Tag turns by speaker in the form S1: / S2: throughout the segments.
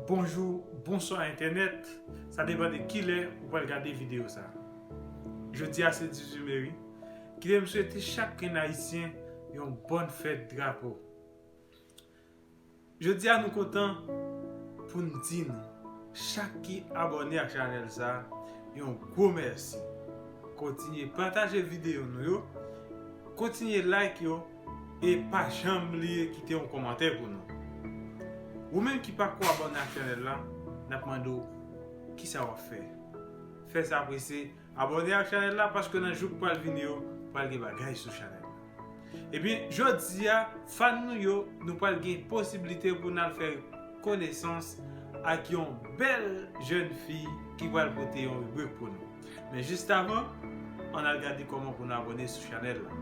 S1: Bonjou, bonswa entènèt, sa depan de kilè ou pral gade videyo sa. Jodi a se 18 me wi, kite m swete chak grenn ayisyen yon bòn fèt drapo. Jodi a nou kontan pou n di nou chak ki abòne ak chanèl sa yon gwo mèsi. Kontinye pataje videyo nou yo, kontinye like yo e pa janm bliye kite yon kòmantè pou nou. Ou menm ki pako abòne ak chanèl la, n ap mande w kisa w ap fè. Fè sa prese. Abòne ak chanèl la paske nan jou k pral vini yo pral gen bagay sou chanèl la. Ebyen jodia fan nou yo nou pral gen posiblite pou nal fè konesans ak yon bèl jèn fi ki pral pote yon ribrik pou nou. Men jistavan an al gade kòman pou nou abòne sou chanèl la.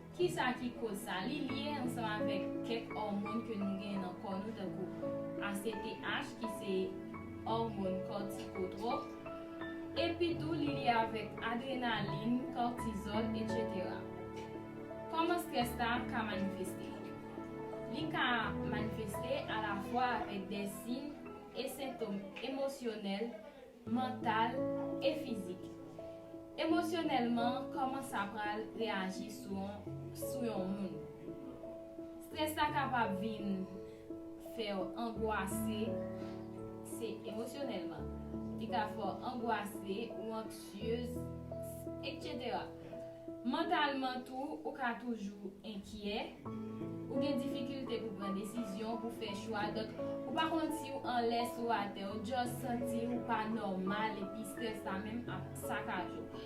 S2: Kisa ki koz sa? Li lye ansanm avèk kèk òmon ke nou genyen nan kò nou tankou ACTH ki se òmon kòtikotwòp, epi tou li lye avèk adrenalin, kòtizòl, etc. Kòman strès sa ka manifeste? Li ka manifeste alafwa avèk dè siy e sentom emosyonèl mantal e fizik. Emosyonèlman kòman sa pral reyaji sou yon moun. Strès la kapab vin fè w angwase, se emosyonèlman. Li ka fè w angwase ou anksyez, eksetera. Mantalman tou, ou ka toujou enkyè, ou gen difikilte pou pran desizyon, pou fè chwa, donk ou pa konn siw anlè, siw atè, ou just santiw pa nòmal epi strès la menm ap sakaj ou.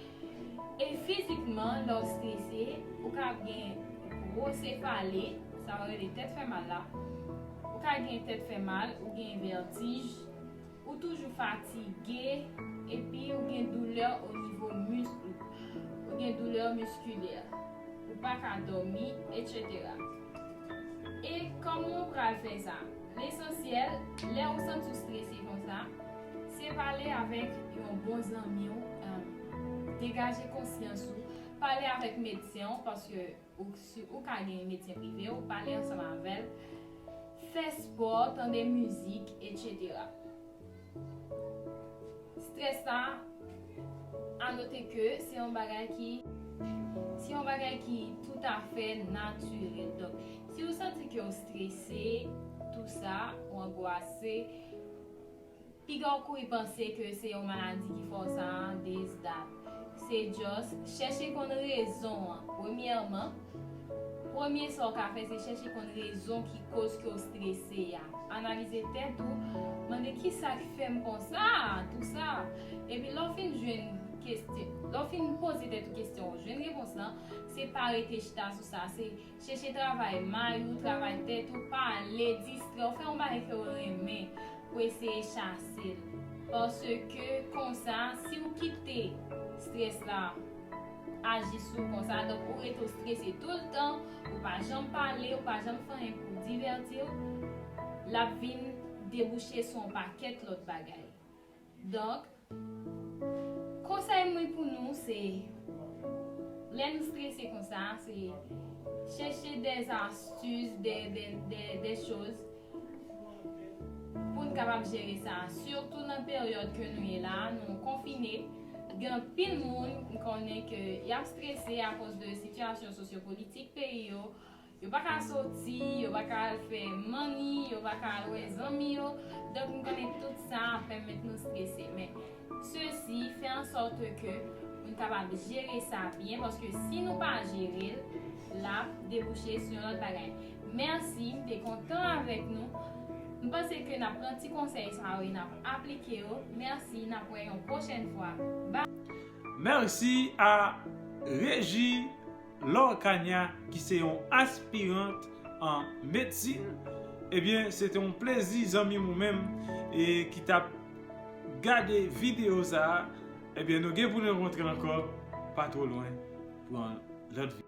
S2: E fizikman, lèw strese, ou ka ap gen gwo sefale, sa yo rele tèt fè mal la, ou ka gen tèt fè mal, ou gen vètij, Ou toujou fatige epi ou gen doulè o nivo misk ou, ou gen doulè miskilè, ou pa ka dòmi, etc. E kòman ou pral fè sa? Lesansyèl, lè ou santi ou strese konsa, se pale avèk yon bon zanmi ou, degaje konsyans ou, pale avèk medsen ou paske Ou k si ou ka genyen medsen prive ou, pale ansanm avè l, fè spò, tande mizik, etc. Strès la, a note ke se yon bagay ki, se yon bagay ki toutafè natirèl. Donk, si ou santi ke ou strese, tou sa, ou angwase, Piga w kouri panse ke se yon maladi ki fè w sa a, this, that. Se just, chèche konn rezon an. Premyèman, premye sa w ka fè se chèche konn rezon ki koz ke w strese a. Analize tèt ou, mande kisa k fè m konsa a, tou sa. Epi lè w fin jwenn kestyon, lè w fin poze tèt ou kestyon, jwenn repons lan, se pa rete chita sou sa, se. Chèche travay may ou, travay tèt ou, pale, distrè w, fè yon bagay ke w renmen pou w eseye chase l. Paske konsa, si w kite strès la aji sou w konsa, donk ou rete w strese tou l tan, ou pa janm pale, ou pa janm fè anyen pou w divèti w, l ap vin debouche sou yon pakèt lòt bagay. Donk, konsèy mwen pou nou se, lè nou strese konsa, se chèche dè astis, dè choz pou n kapab jere sa. Sitou nan peryòd ke nou ye la a, nou konfine, gen anpil moun m konnen ke y ap strese akoz de sitiyasyon sosyopolitik peyi yo, Yo pa ka soti, yo pa ka al fè manni, yo pa ka al wè zanmi yo, donk nou konnen tout sa ap pèmèt nou strese. Men, sesi fè an sòte ke nou kapab jere sa byen, paske si nou pa jere l, l ap debouche sou yon lòt bagay. Mèsi, m te kontan avèk nou. M panse ke n ap pran ti konsèy sa yo e n ap aplike yo. Mèsi, n ap wè yon pwochèn fwa. Bye! Merci
S1: a Reji! Laure Cagna ki se yon aspirant an medsin ebyen se te yon plezi zanmim ou menm ki tap gade video sa ebyen nou gen pou nou rankontre ankò pa two lwen pou yon lòt video.